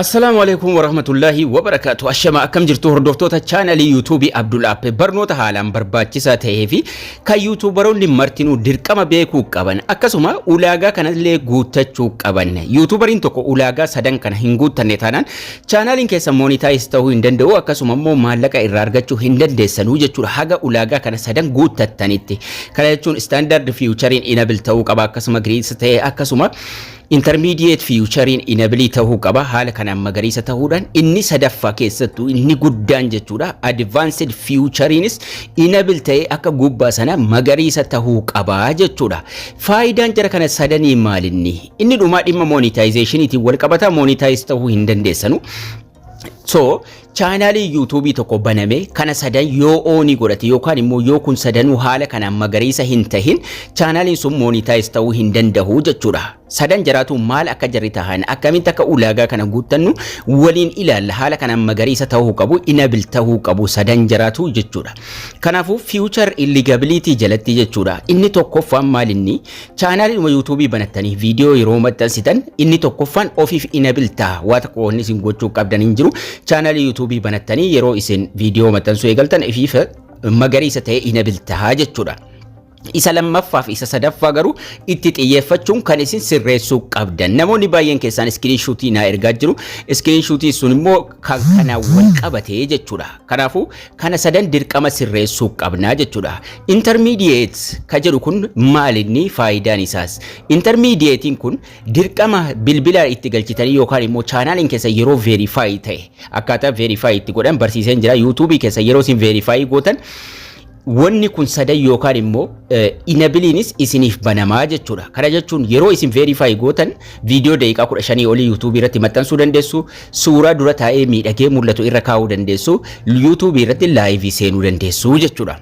Assalaamu alaikum warahmatullaahi wabarakaatu Ashama akkam jirtu hordoftoota chaanalii yuutuubii Abdul App barnoota haalaan barbaachisaa ta'ee fi kan yuutuubaroonni martinuu dirqama beekuu qaban akkasuma ulaagaa kanallee guuttachuu qaban yuutuubariin tokko ulaagaa sadan kana hin guuttanne taanaan chaanaaliin keessa moonitaayis ta'uu hin danda'u akkasuma immoo maallaqa irraa argachuu hin dandeessanuu jechuudha haga ulaagaa kana sadan guuttattanitti kana jechuun istaandaard fiiwuchariin inabil ta'uu qaba akkasuma giriis ta'e akkasuma Intermediate fiiwuchariin inabilii tahuu qaba haala kanaan magariisa tahuudhaan inni sadaffaa keessattuu inni guddaan jechuudha advanced fiiwuchariinis inable ta'ee akka gubbaa sana magariisa tahuu qaba jechuudha faayidaan jara kana sadanii maalinni inni dhumaa dhimma monetizationiitiin wal qabata monetize tahuu hin dandeessanu So chaanaalii yuutuubii tokko baname kana sadan yoo oonii godhate yookaan immoo yoo kun sadanuu haala kanaan magariisa hin tahin chaanaaliin sun moonitaayiz ta'uu hin danda'u jechuudha. Sadan jaraatu maal akka jarri tahan akkamitti akka ulaagaa kana guuttannu waliin ilaalla haala kanaan magariisa ta'uu qabu inabil ta'uu qabu sadan jaraatu jechuudha. Kanaafuu fiiwuchar illigabiliitii jalatti jechuudha. Inni tokkoffaan maalinni Chaanaaliidhuma yuutuubii banattanii viidiyoo yeroo maxxansitan inni tokkoffaan ofiif inabil ta'a. Waa tokko wanni isin gochuu qabdan hin jiru. Chaanaalii yuutuubii banattanii yeroo isin viidiyoo maxxansuu eegaltan ifiif magariisa ta'ee inabil ta'a jechuudha. Isa lammaffaa fi isa sadaffaa garuu itti xiyyeeffachuun kan isin sirreessuu qabdan. Namoonni baay'een keessaan iskiriinshuutii naa ergaa jiru. Iskiriinshuutii sun immoo kan kana wal qabate jechuudha. Kanaafuu kana sadan dirqama sirreessuu qabna jechuudha. Intermediate ka jedhu kun maal inni faayidaan isaas? Intermediatein kun dirqama bilbila itti galchitanii yookaan immoo chaanaaliin keessa yeroo verify ta'e akkaataa verify itti godhan barsiiseen jira. YouTube keessa yeroo isin verify gootan Wanni kun sadan yookaan immoo inabiliinis isiniif banamaa jechuudha. Kana jechuun yeroo isin verify gootan viidiyoo daqiiqaa 15 olii YouTube irratti maxxansuu dandeessu, suuraa dura taa'ee miidhagee mul'atu irra kaa'uu dandeessu, YouTube irratti live seenuu dandeessu jechuudha.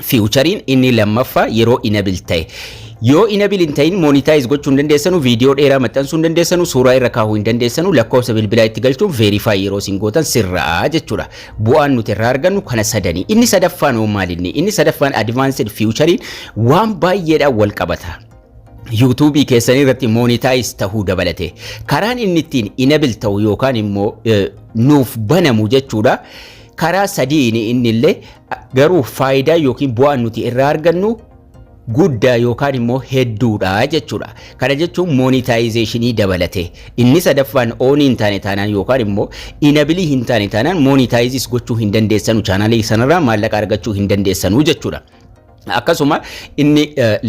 Fiiwuchariin inni lammaffaa yeroo inabil ta'e. Yoo inabil hin ta'in monetize gochuu hin dandeessanu, viidiyoo dheeraa maxxansuu hin dandeessanu, suuraa irra kaa'uu hin dandeessanu, lakkoofsa bilbilaa itti galchuun verify yeroo isin gootan sirra'a jechuudha. Bu'aan nuti irraa argannu kana sadanii. Inni sadaffaan hoo maalinni? Inni sadaffaan advanced futurein waan baay'eedhaan wal qabata. yuutuubii keessanii irratti moonitaayiz ta'uu dabalate karaan inni ittiin inabil ta'u yookaan immoo nuuf banamu jechuudha karaa sadiin inni illee garuu faayidaa yookiin bu'aan nuti irraa argannu guddaa yookaan immoo hedduudha jechuudha. Kana jechuun moonitaayizeeshinii dabalate. Inni sadaffaan oonii hin taane taanaan yookaan immoo inabilii hin taane taanaan moonitaayizis gochuu hin dandeessanu chaanaalii sanarraa maallaqa argachuu hin dandeessanu jechuudha. Akkasuma inni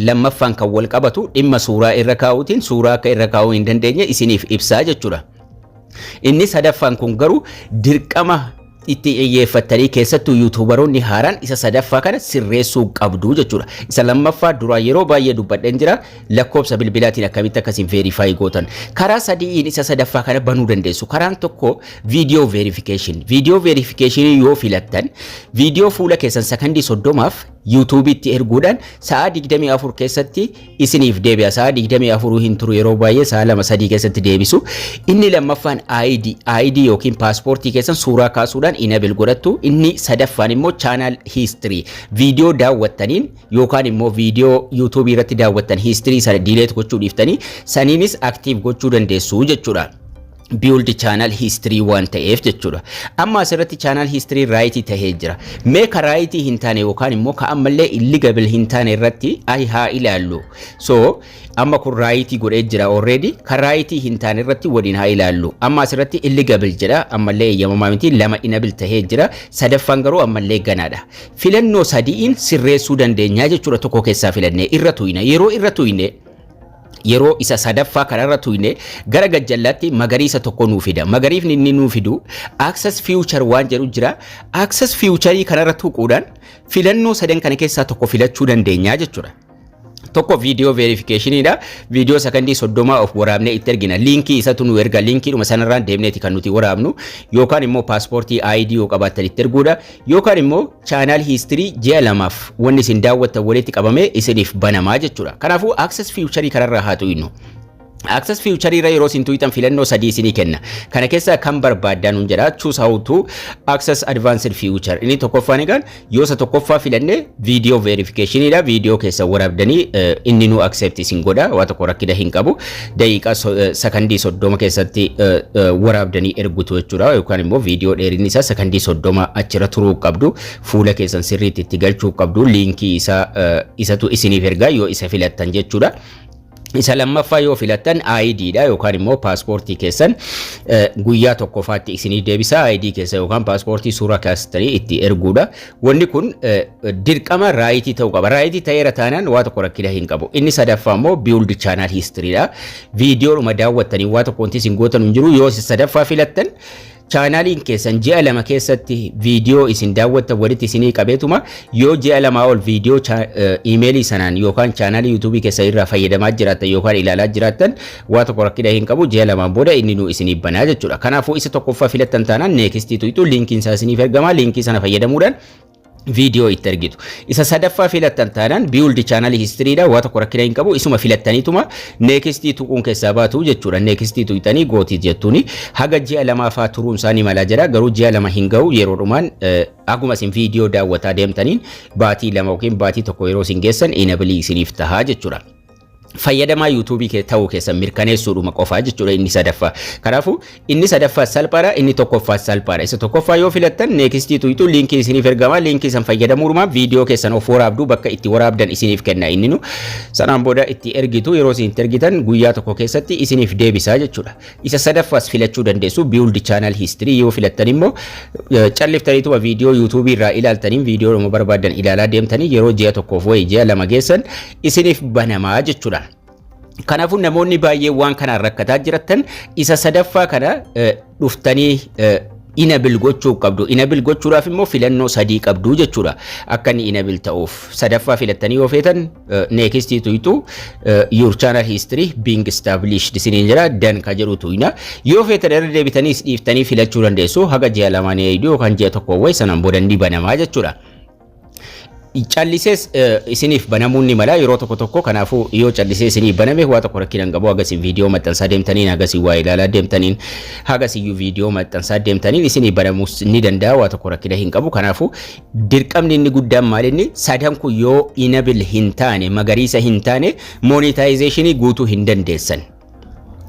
lammaffaan kan wal qabatu dhimma suuraa irra kaa'uutiin suuraa akka irra kaa'uu hin dandeenye isiniif ibsaa jechuudha. Inni sadaffaan kun garuu dirqama itti xiyyeeffattanii keessattuu yuutuubaroonni haaraan isa sadaffaa kana sirreessuu qabdu jechuudha. Isa lammaffaa duraa yeroo baay'ee dubbadheen jira lakkoofsa bilbilaatiin akkamitti akkasiin veerifaayi gootan. Karaa sadi'iin isa sadaffaa kana banuu dandeessu. Karaan tokko viidiyoo veerifikeeshin. Viidiyoo veerifikeeshinii yoo filattan viidiyoo fuula keessan sakandii soddomaaf yuutuubiitti erguudhaan sa'aa 24 keessatti isiniif deebi'a sa'a 24 hin turu yeroo baay'ee sa'a 2-3 keessatti deebisu inni lammaffaan ID ID yookiin paaspoortii keessan suuraa kaasuudhaan inabil godhattu inni sadaffaan immoo chaanaal hiistirii viidiyoo daawwattaniin yookaan immoo viidiyoo yuutuubii irratti daawwattan hiistirii sana diileet gochuu dhiiftanii saniinis aktiiv gochuu dandeessu jechuudha. build channel history waan ta'eef jechuudha. Amma asirratti channel history right ta'ee jira. Mee ka right hin taane yookaan immoo ka ammallee illegal hin taane irratti ayi haa ilaallu. So amma kun right godhee jira already ka right hin taane irratti waliin haa ilaallu. Amma asirratti illegal jedha ammallee eeyyamamaa miti lama enable ta'ee jira. Sadaffaan garuu ammallee ganaadha. Filannoo sadi'iin sirreessuu dandeenya jechuudha tokko keessaa filannee irra tuyna. Yeroo irra tuyne yeroo isa sadaffaa kanarra tuyne gara gajjallaatti magariisa tokko nuu fida. Magariifni inni nuu fidu access future waan jedhu jira. Access future kanarra tuquudhaan filannoo sadan kana keessaa tokko filachuu dandeenya jechuudha. Tokko viidiyoo veerifikeeshiniidha. Viidiyoo sakandii soddomaa of waraabnee itti ergina. Liinkii isatu nu erga. Liinkiidhuma sanarraan deemneeti kan nuti waraabnu. Yookaan immoo paaspoortii ID yoo qabaattan itti erguudha. Yookaan immoo channel history ji'a lamaaf wanni isin daawwattan walitti qabamee isiniif banamaa jechuudha. Kanaafuu access future kanarraa haa tuynu. Access future irra yeroo isin tuyxan filannoo sadii isinii kenna. Kana keessaa kan barbaaddan nuun jedha choose how to access advanced future. Inni tokkoffaan egaan yoo isa tokkoffaa filanne video verification dha. Video keessa waraabdanii inni nu accept isin godha. Waa tokko rakkina hin qabu. daqiiqaa sakandii soddoma keessatti waraabdanii ergutu jechuudha yookaan immoo viidiyoo dheerinni isaa sakandii soddoma achirra turuu qabdu fuula keessan sirriitti itti galchuu qabdu liinkii isaa isatu isiniif ergaa yoo isa filattan jechuudha. Isa lammaffaa yoo filattan ID dha yookaan immoo paaspoortii keessan guyyaa tokkoffaatti isinii deebisa ID keessa yookaan paaspoortii suuraa kaastanii itti erguudha. Wanni kun dirqama raayitii ta'uu qaba. Raayitii ta'eera taanaan waa tokko rakkina hin qabu. Inni sadaffaa immoo build channel history dha. Viidiyoodhuma daawwattanii waa tokko wanti isin gootan hin jiru. Yoo isin sadaffaa filattan chaanaaliin keessan ji'a lama keessatti viidiyoo isin daawwattan walitti isinii qabeetuma yoo ji'a lamaa ol viidiyoo iimeelii sanaan yookaan chaanaalii yuutuubii keessan irraa fayyadamaa jiraattan yookaan ilaalaa jiraattan Waa tokko rakkina hin qabu ji'a lamaan booda inni nuu isiniif banaa jechuudha. Kanaafuu isa tokkoffaa filattan taanaan neekistii tuqxu liinkiin isaa isiniif ergama liinkii sana fayyadamuudhaan viidiyoo itti argitu. Isa sadaffaa filattan taanaan biiwuldi chaanalii histiriidha waa tokko rakkina hin qabu isuma filattaniituma neekistii tuquun keessaa baatu jechuudha. Neekistii tuqxanii gootii jettuuni haga ji'a lamaafaa turuun isaa ni mala jedha garuu ji'a lama hin ga'u yeroo dhumaan akkuma isin viidiyoo daawwataa deemtaniin baatii lama yookiin baatii tokko yeroo isin geessan inabilii isiniif tahaa jechuudha. fayyadamaa yuutuubii kee ta'uu keessan mirkaneessuudhuma qofaa jechuudha inni sadaffaa. Kanaafuu inni sadaffaa salphaadha inni tokkoffaa salphaadha. Isa tokkoffaa yoo filattan neekistii tuyitu liinkii isiniif ergama liinkii san fayyadamuudhuma viidiyoo keessan of waraabdu bakka itti waraabdan isiniif kenna inni nu sanaan booda itti ergitu yeroo isin itti ergitan guyyaa tokko keessatti isiniif deebisa jechuudha. Isa sadaffaas filachuu dandeessu build channel history yoo filattan immoo calliftaniituma viidiyoo yuutuubii irraa ilaaltaniin viidiyoodhuma barbaadan ilaalaa deemtanii yeroo ji'a tokkoof wayii ji'a lama geessan isiniif banamaa jechuudha. Kanaafuu namoonni baay'ee waan kanaan rakkataa jiratan isa sadaffaa kana eh, dhuftanii eh, inabil gochuu qabdu. Inabil gochuudhaaf immoo filannoo sadii qabdu jechuudha. Akka inni inabil ta'uuf sadaffaa filattanii yoo feetan eh, next tuqxu eh, your channel history being established isiniin jira dan ka jedhu tuqna. Yoo feetan irra deebitaniis dhiiftanii filachuu dandeessu haga ji'a lamaan eegdu yookaan ji'a tokko wayii sanaan booda ni banamaa jechuudha. callisees isiniif banamuun ni mala yeroo tokko tokko kanaafuu yoo callisee isiniif baname waa tokko rakkina hin qabu hagasiin viidiyoo maxxansaa deemtaniin hagasiin waa ilaalaa deemtaniin hagasiyyuu viidiyoo maxxansaa deemtaniin isiniif banamuus ni danda'a waa tokko rakkina hin qabu kanaafuu dirqamni inni guddaan maalinni sadan kun yoo inabil hin taane magariisa hin taane moonitaayizeeshinii guutuu hin dandeessan.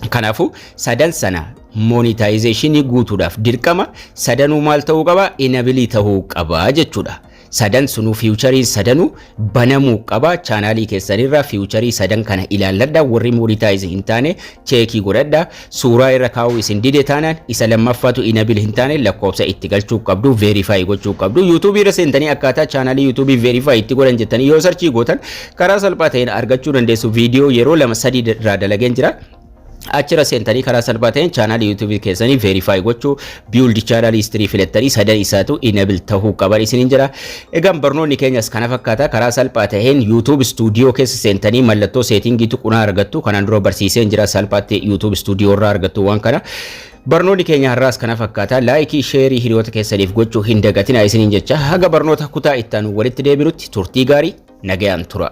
Kanaafuu sadan sana monetization guutuudhaaf dirqama sadanuu maal ta'uu qaba? Inabilii ta'uu qaba jechuudha. Sadan sunuu fiiwuchariin sadanuu banamuu qaba. Chaanaalii keessanirraa fiiwucharii sadan kana ilaalladha. Warri monetize hin taane cheekii godhadha. Suuraa irra kaa'uu isin dide taanaan isa lammaffaatu inabil hin taane lakkoofsa itti galchuu qabdu verify gochuu qabdu. YouTube irra seentanii akkaataa chaanaalii YouTube verify itti godhan jettanii yoo sarchii gootan Karaa salphaa ta'een argachuu dandeessu viidiyoo yeroo lama sadii irraa dalageen jira. Achirra seentanii karaa salphaa ta'een chaanaalii yuutuubii keessanii veerifaayi gochuu biildi chaanaalii istirii filattanii sadan isaatu inabil ta'uu qaban isiniin jira. Egaan barnoonni keenyas kana fakkaata karaa salphaa ta'een yuutuub istuudiyoo keessa seentanii mallattoo seetingii tuqunaa argattu kanaan dura barsiiseen jira salphaatti yuutuub istuudiyoo irraa argattu waan kana. Barnoonni keenya har'aas kana fakkaata. Laayikii, sheerii hiriyoota keessaniif gochuu hin dagatinaa isiniin jecha haga barnoota kutaa itti aanu walitti deebinutti turtii gaarii nagayaan tura.